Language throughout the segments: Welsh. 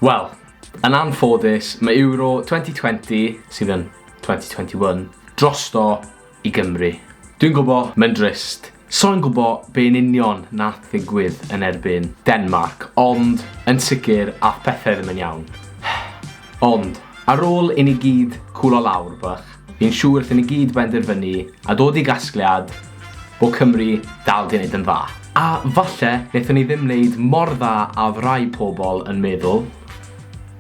Wel, yn anffodus, mae Euro 2020, sydd yn 2021, drosto i Gymru. Dwi'n gwybod, mae'n drist. So'n gwybod be yn union na ddigwydd yn erbyn Denmark, ond yn sicr a phethau ddim yn iawn. Ond, ar ôl i ni gyd cwlo lawr bach, Fi'n siŵr wrth i ni gyd benderfynu a dod i gasgliad bod Cymru dal 'di neud yn dda. A falle nethon ni ddim neud mor dda a odd rai pobl yn meddwl,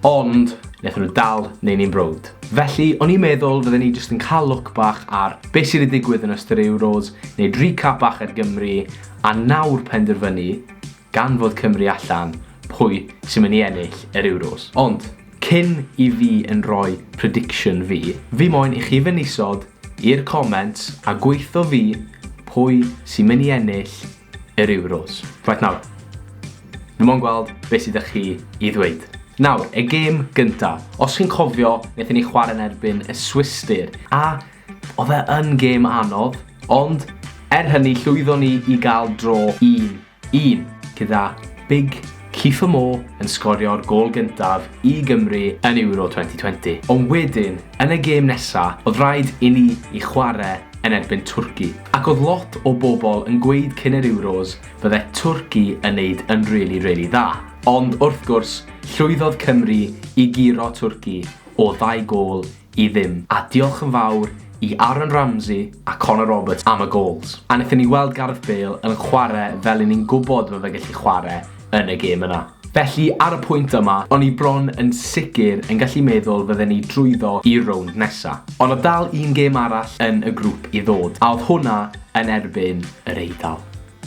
ond nethon nhw dal neu' ni'n browd. Felly, o'n i'n meddwl fydden ni jyst yn ca'l look bach ar be' sy' 'di digwydd yn ystod yr Euros, neud recap bach ar Gymru, a nawr penderfynu gan fod Cymru allan, pwy sy'n mynd i ennill yr Euros. Ond, cyn i fi yn rhoi prediction fi, fi moyn i chi fynd isod i'r comments a gweitho fi pwy sy'n mynd i ennill yr Euros. Reit nawr, fi moyn gweld beth sydd â chi i ddweud. Nawr, y gêm gynta. Os chi'n cofio, wnaethon ni chwarae yn erbyn y Swistir, a oedd e yn gêm anodd, ond er hynny llwyddon ni i gael dro un 1, gyda Big Kieffer Moore yn sgorio'r gôl gyntaf i Gymru yn Euro 2020. Ond wedyn, yn y gêm nesa, oedd rhaid i ni i chware yn erbyn Twrci. Ac oedd lot o bobl yn gweud cyn yr Euros fydde Twrci yn neud yn rili, rili dda. Ond wrth gwrs, llwyddodd Cymru i guro Twrci o ddau gôl i ddim. A diolch yn fawr i Aaron Ramsey a Connor Roberts am y gols. A wnaethon ni weld Gareth Bale yn chwarae fel i ni'n gwybod ma' fe gallu chwarae yn y gêm yna. Felly, ar y pwynt yma, o'n i bron yn sicr yn gallu meddwl fydden ni drwyddo i'r rownd nesa. Ond o'dd dal un gêm arall yn y grŵp i ddod, a o'dd hwnna yn erbyn yr Eidal.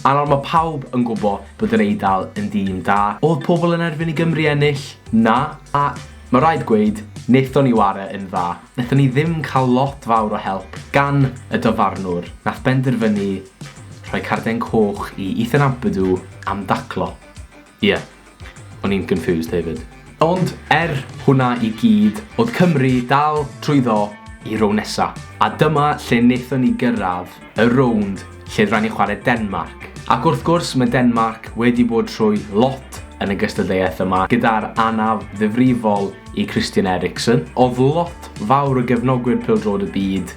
Ar ol mae pawb yn gwbo bod yr Eidal yn dîm da. Odd pobl yn erfyn i Gymru ennill? Na. A mae rhaid gweud, naethon ni ware yn dda. Naethon ni ddim cael lot fawr o help gan y dyfarnwr. Nath benderfynu rhoi carden coch i Ethan Ampadu am daclo. Ie. O'n i'n confused hefyd. Ond er hwnna i gyd, o'dd Cymru dal trwyddo i rownd nesa, a dyma lle nethon ni gyrradd y rownd lle r'ai' ni chware Denmarc. Ac wrth gwrs ma' Denmarc wedi bod trwy lot yn y gystadleuaeth yma gyda'r anaf ddifrifol i Christian Eriksen. O'dd lot fawr o gefnogwyr pêl-droed y byd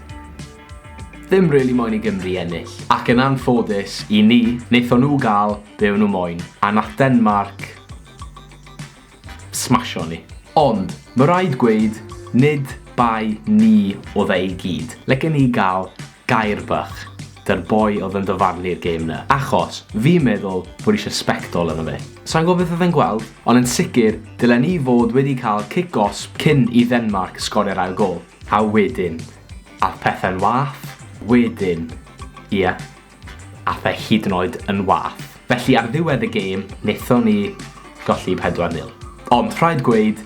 Ddim really moyn i Gymru ennill. Ac yn anffodus i ni, wnaethon nhw gael be o'n nhw moyn, a nath Denmarc smasho ni. Ond, ma raid gweud, nid bai ni oedd e i gyd. Lecen ni gael gair bach 'da'r boi oedd yn dyfarnu'r gêm 'na, achos fi'n meddwl bod ishe sbectol arno fe. Sai'n gwybod beth oedd e'n gweld, ond yn sicr, dylen ni fod wedi cael cic gosb cyn i Ddenmarc sgorio'r ail gôl. A wedyn, Ath pethau'n wath wedyn. Ie, ath e hyd yn oed yn wath. Felly ar ddiwedd y gêm, wnaethon ni golli 4-0. Ond rhaid gweud,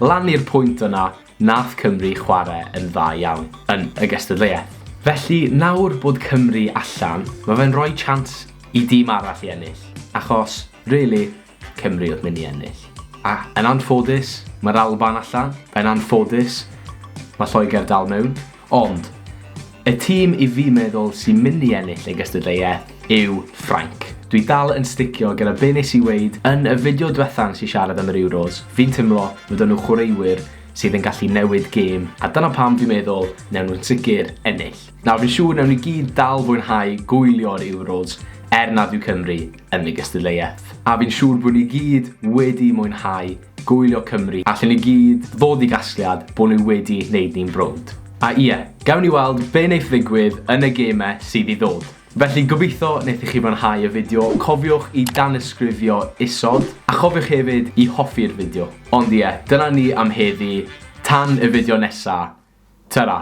lan i'r pwynt yna, nath Cymru chwarae yn dda iawn yn y gystadleuaeth. Felly nawr bod Cymru allan, mae fe'n rhoi chance i dîm arall i ennill, achos Really, Cymru oedd mynd i ennill. A yn anffodus, mae'r Alban allan. Yn anffodus, mae Lloegr dal mewn. Ond, y tîm i fi meddwl sy'n mynd i ennill ei gystadleuaeth yw Ffrainc. Dwi dal yn sticio gyda be nes i weid yn y fideo dwetha nes i siarad am yr Euros. Fi'n teimlo fod nhw chwaraewyr sydd yn gallu newid gêm, a dyna pam dwi'n meddwl newn nhw'n sicr ennill. Nawr fi'n siŵr newn ni gyd dal fwynhau gwylio'r Euros er nad yw Cymru yn y gystadleuaeth. A fi'n siŵr bod ni gyd wedi mwynhau gwylio Cymru allen ni gyd ddod i gasgliad bod nhw wedi neud ni'n browd. A ie, gawn ni weld be neith ddigwydd yn y gême sydd i ddod. Felly gobeitho nethoch chi fwynhau y fideo, cofiwch i danysgrifio isod, a chofiwch hefyd i hoffi'r fideo. Ond ie, dyna ni am heddi, tan y fideo nesa, tara!